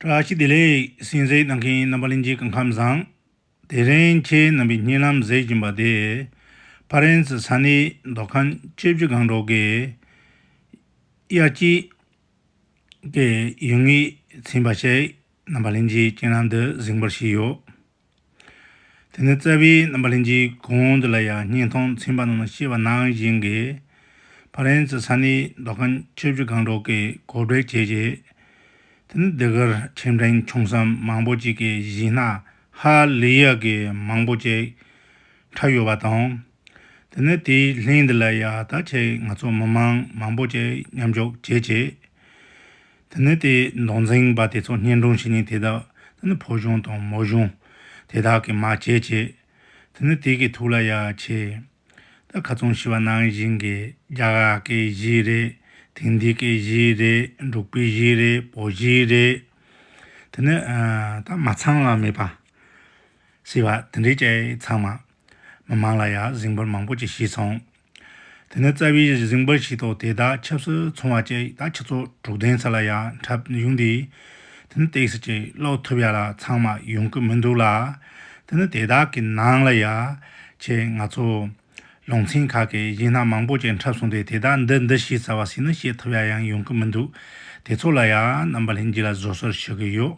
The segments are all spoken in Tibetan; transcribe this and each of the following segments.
བཀྲ་ཤིས་བདེ་ལེགས་སྲིན་གཟིགས་གནང་མཁན་རྣམ་པ་གླིང་རྗེ་གང་ཁམས་བཟང། དེ་རིང་ཁྱེད་རྣམ་པའི་སྙིང་ལམ་གཟེད་བཞིན་པ་དེ། ཕ་རན་སི་ས་གནས་མདོ་ཁམས་སྤྱི་བྱེ་སྒང་གྲོག་གི། དབྱར་སྐྱིད། ཀྱི་ཡུལ་ངེས་ཚིམས་པ་ཞིག་རྣམ་པ་གླིང་རྗེའི་སྤྱན་ལམ་དུ་གཟིགས་འབུལ་ཞུས་ཡོད། དེ་ནས་རྩ་བའི་རྣམ་པ་ལྷན་ཅིག་གོང་དུ་ལ་ཡང་སྙིང་མཐོང་ཚིམ་པ་རྣམས་ལ་ཤེས་པ་ནང་བཞིན་གྱི་ཕ་རན་ཙི་ས་ནི་མདོ་ཁམས་ཆོས་བརྒྱུད་གང་དྲུག་གི་གོ་བྲལ་བྱེད་ཅེས། དེ་ནི་འདི་གར་ཁྱིམ་ཕྲན་ཆུང་སྲམ་མང་པོ་ཅིག་གི་གཞི་ན་ཧ་ལི་ཡ་གི་མང་པོ་ཅིག་འཁྲབ་ཡོད་པ་དང། དེ་ནས་དེའི་ལྷན་དུ་ལ་ཡ་ད་ཆའི་ང་ཚོ་མི་མང་མང་པོ་ཅིག་མཉམ་འཇོག་བྱེད་ཅེས། དེ་ནི་དེའི་མདོག་འཛིངས་པ་དེ་ཚོ་བསྙེན་སྒྲུང་བྱེད་ཉིན་དེ་དག་དེ་ནི་ཕོ་གཞུང་དང་མོ་གཞུང་དེ་དག་གི་མ་བྱེད་བྱེད། དེ་ནི་དེ་གི་ཐུགས་ལ་ཡ་བྱེད། ད་ག་ཙུང་ཞི་བ་ནང་བཞིན་གྱི་རྒྱ་ག་གི་གཞི་རེད་དེང་དུས་ཀྱི་གཞི་རེད་འབྲུག་པའི་གཞི་རེད་བོད་གཞི་རེད། དེ་ནི་ད་མ་ཚང་ལ་མེད་པ། ཞེས་པ་དེ་འདྲའི་སྐད་ཚང་མ། མི་མང་ལ་ཡང་གཟིགས་འབོར་མང་པོ་ཅིག་བྱས་སོང། དེ་ནས་རྩ་བའི་གཟིགས་འབོར་ཞིག་ཐོག་དེ་དག་ཆབ་སྲིད་ཚོང་བ་ཅིག་ད་ཁྱི་ཚོགས་དྲུག་ལྡན་ཚོ་ལ་ཡང་འཁྲབ་གཞུང་འདི། དེ་ནི་སྟེགས་ཅིག་ཀློག་ཐུབ་ཡ་ལ་ཚང་མ་ཡོང་གི་མི་འདུག་ལ། དེ་ནི་དེ་དག་གི་ནང་ལ་ཡ། ཁྱེད་ང་ཚོ། ལུང་ཚན་ཁག་གི་གཞས་སྣ་མང་པོ་ཅིག་འཁྲབ་སོང་སྟེ་དེ་དག་འདི་འདི་ཞེས་བྱ་བ་ཞིག་ནི་བཤད་ཐུབ་ཡ་ཡང་ཡོང་གི་མི་འདུག་དེ་ཚོ་ལ་ཡང་རྣམ་པ་ལྷན་རྒྱས་ལ་བཟོ་གསོལ་ཞུ་གི་ཡོད།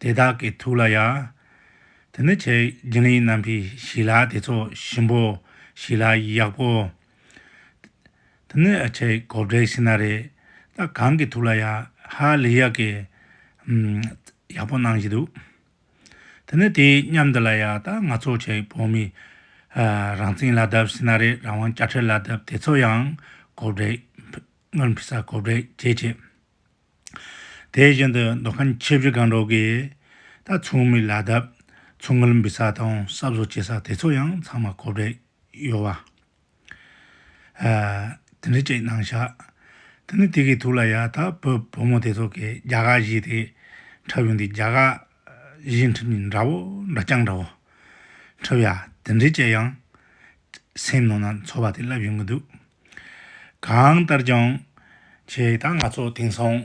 དེ་དག་གི་ཐུགས་ལ་ཡང། དེ་ནི་ཆེ་རྒྱུན་ལས་རྣམ་བཞི་ཞི་ལ་དེ་ཚོ་ཞིམ་པོ་ཞི་ལ་ཡག་པོ། དེ་ནི་ཨ་ཆེ་གོ་བགྲེས་ཤི་ན་རེ་ད་གང་གི་ཐུགས་ལ་ཡང་ཧ་ལས་ཡག་གི། ཡག་པོ་གནང་བཞིན་འདུག་དེ་ནི་དེའི་མཉམ་དུ་ལ་ཡང་ད་ང་ཚོ་ཆེ་བོད་མི། རང་བཙན་ལ་དབབ་ཤི་ན་རེ་རང་དབང་བཅའ་ཁྲལ་ལ་དབབ་དེ་ཚོ་ཡང་གོ་བགྲེས། སྔོན་ཕི་སར་གོ་བགྲེས་བྱེད་བྱེད། དེ་བཞིན་དུ་མདོ་ཁམས་ཆིབས་བཞི་སྒང་དྲུག་གི། རྟ་མཚུངས་མི་ལ་དབབ། མཚུངས་མིར་འབུད་ས་དང་གསབ་བཟོ་བྱེད་ས་དེ་ཚོ་ཡང་ཚང་མ་གོ་བྲལ་ཡོད། བ་དེ་འདྲ་གཅིག་གནང་བཞག་དེ་ནི་དེ་གི་ཐུགས་ལ་ཡ་ཐག་བོད་བུ་མོ་དེ་ཚོ་གི་རྒྱ་གར་གཞིས་དེ་འཁྲབ་ཡོང་དུས་རྒྱ་གར་གཞིས་འཁྲབ་ཉིན་འདྲ་བོ་འདྲ་རྐྱང་འདྲ་བོ་འཁྲབ་ཡ་དེ་འདྲས་བྱས་ཡང། སེམས་ནང་ན་འཚོ་བ་དེ་བསླབ་ཡོང་གི་འདུག། གང་ལྟར་ཀྱང། ཁྱེད་དང་ང་ཚོ་དེང་སང།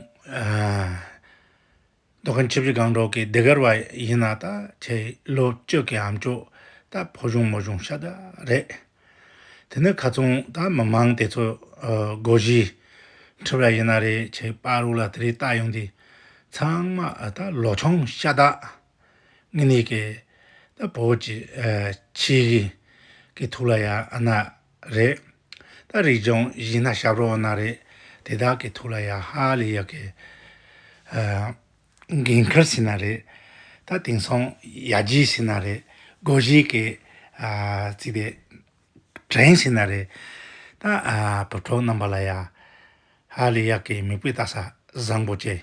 རྡོ་ཁ་འཆིབ་རི་སྒང་དྲུག་གི་སྡེ་དགེར་བ་ཡིན་ན་ད་ཁྱེད་ལོ་བཅུ་གི་ཨམ་ཅོག་ད་ཕོ་གཞོང་མོ་གཞོང་ཤ་སྟག་རེད། དེ་ནི་ག་ཚོང་ད་མི་མང་དེ་ཚོ་སྒོ་བཞི་འཁྲིད་པ་ཡིན་ན་རེད་ཁྱེད་པ་རུག་ལ་དེ་རིགས་ལྟ་ཡོང་དུས་ཚང་མ་ད་ལོ་ཆུང་ཤ་སྟག་ངེད་གཉིས་ཀྱིས་ད་བོད་ཀྱི་ཆོས་རིག་གི་ཐུགས་ལ་ཡག་ན་རེད། ད་རིག་འབྱུང་ཡིན་ན་ཞབས་རོགས་ན་རེད། དེ་དག་གི་ཐུགས་ལ་ཡག་ཧ་ལས་ཡག་གི། འགན་ཁུར་ཟིན་ན་རེད། ད་དེང་སང་ཡར་རྒྱས་ཟིན་ན་རེད། སྒོ་བཞི་གི་ཚིག་དེ་དྲན་ཟིན་ན་རེད། ད་བོད་ཕྲུག་རྣམས་པ་ལ་ཡག་ཧ་ལས་ཡག་གི་མིག་དཔེ་བལྟ་ས་བཟང་པོ་བྱས།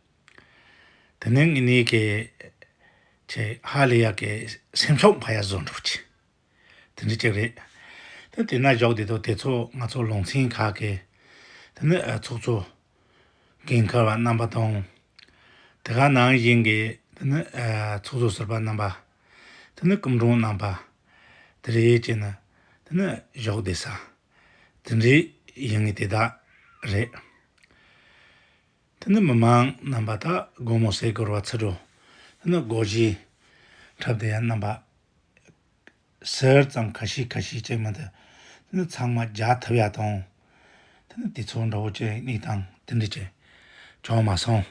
དེ་ནས་ངེད་གཉིས་ཀྱིས་ཆེས་ཧ་ལས་ཡག་གི་སེམས་ཤོག་འཕར་ཡ་བཟོ་འགྲོ་བྱས། དེ་འདྲ་གཅིག་རེད། དེ་དེ་ན་བཞག་དེ་དང་དེ་ཚོ་ང་ཚོ་ལུང་ཚན་ཁག་གི་དེ་ནི་ཚོགས་གཙོ། རྒན་མཁར་བ་རྣམ་པ་དང། དེ་ག་ནང་བཞིན་གྱི་དེ་ནི་ཚོགས་གཙོ་ཟུར་པ་རྣམ་པ། དེ་ནི་སྐུ་མགྲོན་རྣམ་པ། དེ་རེད་ཅེས་ནི་དེ་ནི་བཞག་བསྡད་ས། དེ་འདྲའི་ཡིན་ངེས་དེ་དག་རེད། འདི་ནི་མི་མང་རྣམ་པ་དག་སྒོ་མོ་ཟས་གོར་བ་ཚིག་འགྲོ། འདི་ནི་སྒོ་བཞི། འཁྲབ་སྡེ་རྣམ་པ། ཟེར་ཙམ་ཁ་ཤིས་ཁ་ཤིས་ཅེས་མི་འདི། འདི་ནི་ཚང་མ་རྒྱ་ཐབས་ཡག་དང། འདི་ནི་དུས་ཚོད་འདྲ་བོ་ཅན་གཉིས་དང་འདི་འདྲ་ཅན། ཅང་མ་སོང།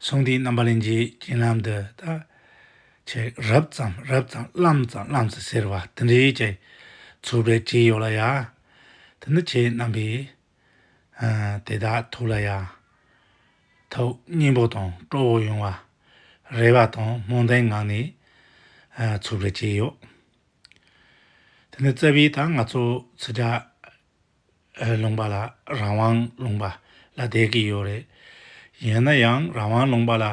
སོང་དུས་རྣམ་པ་ལེན་གྱི་སྤྱན་ལམ་འདི་ད། ཆེ་རབས་ཙམ་རབས་ཙམ་རླམ་ཙམ་རླམ་ཙམ་ཟེར་བ་འདི་འདྲ་ཅན། ཚོར་བའི་ལྕེ་ཡོད་ལ་ཡ། འདི་ནི་ཁྱེད་རྣམ་པས་དེ་དག་ཐུགས་ལ་ཡང་དག་སྙིང་པོ་དང་སྤྲོ་བོ་ཡོང་བར་རེ་བ་དང་སྨོན་འདུན་ངང་ནས་འཚོལ་དགོས་ཀྱི་ཡོད། དེ་ནས་བརྩེ་བས་ད་ང་ཚོ་ཚོད་དྲག་ལུང་པ་ལ་རང་དབང་ལུང་པ་ལ་བསྡད་ཀྱི་ཡོད་རེད། ཡིན་ན་ཡང་རང་དབང་ལུང་པ་ལ་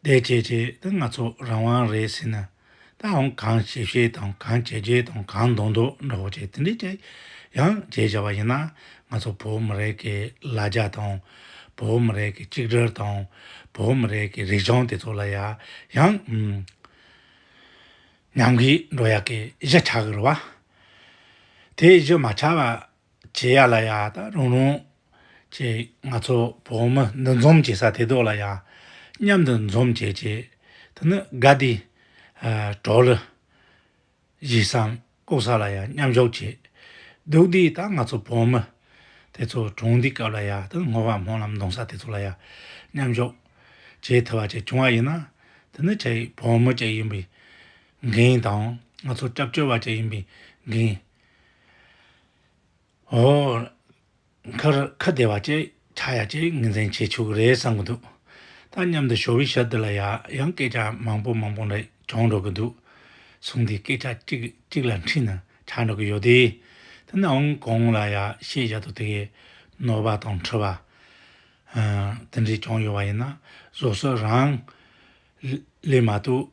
བསྡད་བྱས་བྱས་ད་ང་ཚོ་རང་དབང་རེད་ཟེར་ན་དང་གང་བྱེད་བྱེད་དང་གང་བྱེད་བྱེད་དང་གང་འདོགས་འདོགས་འདྲ་བོ་བྱེད་དེ་འདྲས་བྱེད། ཡང་བྱེད་བྱ་བ་ཡིན་ན་ང་ཚོ་བོད་མི་རིགས་ཀྱི་ལ་རྒྱ་དང། བོད་མི་རིགས་ཀྱི་གཅིག་སྒྲིལ་དང། བོད་མི་རིགས་ཀྱི་རིག་གཞུང་དེ་ཚོ་ལ་ཡང། ཉམས་གྱིས་འགྲོ་ཡག་གི་གཞི་ཆགས་དགོས་རེད་བ། དེ་གཞི་མ་ཆགས་པ་རྗེ་ཡར་ལ་ཡག་ད་རུང་རུང། ཅེས་ང་ཚོ་བོད་མི་འདུ་འཛོམས་བྱེད་ས་དེ་དག་ལ་ཡག། མཉམ་དུ་འཛོམས་བྱེད་ཅེས། དེ་ནི་དགའ་བདེའི། གྲོགས་རེད། གཞིས་སམ་ལྐོག་ཟ་ལ་ཡག་མཉམ་ཞོག་ཅེས། སྡུག་བདེའི་ད་ང་ཚོ་བོད་མི། དེ་ཚོ་གྲོངས་འདུས་སྐབས་ལ་ཡག་ད་སྔོ་བ་སྨོན་ལམ་གདོང་ས་དེ་ཚོ་ལ་ཡག། མཉམ་ཞོག། ཅེས་ཐལ་བ་ཅིག་བྱུང་བ་ཡིན་ན། དེ་ནི་ཁྱེད་བོད་མི་ཅིག་ཡིན་པའི། འགན་དང། ང་ཚོ་སྐྱབས་བཅོལ་བ་ཅིག་ཡིན་པའི་འགན། འོག་ཁ་བདེ་བ་བཅས་ཆག་ཡ་བཅས་ངོས་འཛིན་བྱེད་ཆོག་གི་རེད་བསམ་གྱི་འདུག་ད་མཉམ་དུ་ཞོ་བོའི་ཞབས་འདི་ལ་ཡང་སྐད་ཆ་མང་པོ་མང་པོ་རེ་བྱུང་འགྲོ་གི་འདུག་གསུངས་དེ་སྐད་ཆ་གཅིག་གཅིག་ལ་འཁྲིད་ན་ཆག་འགྲོ་གི་ཡོད་དེ། དེ་ནའང་གང་ལ་ཡང་ཤེས་བྱ་དང་དེ་གའི་ནོར་བ་དང་མཁྲིས་པ། དེ་འདྲས་བྱུང་ཡོད་པ་ཡིན་ན་བཟོ་གསོ་རང་ལས་མ་གཏོགས།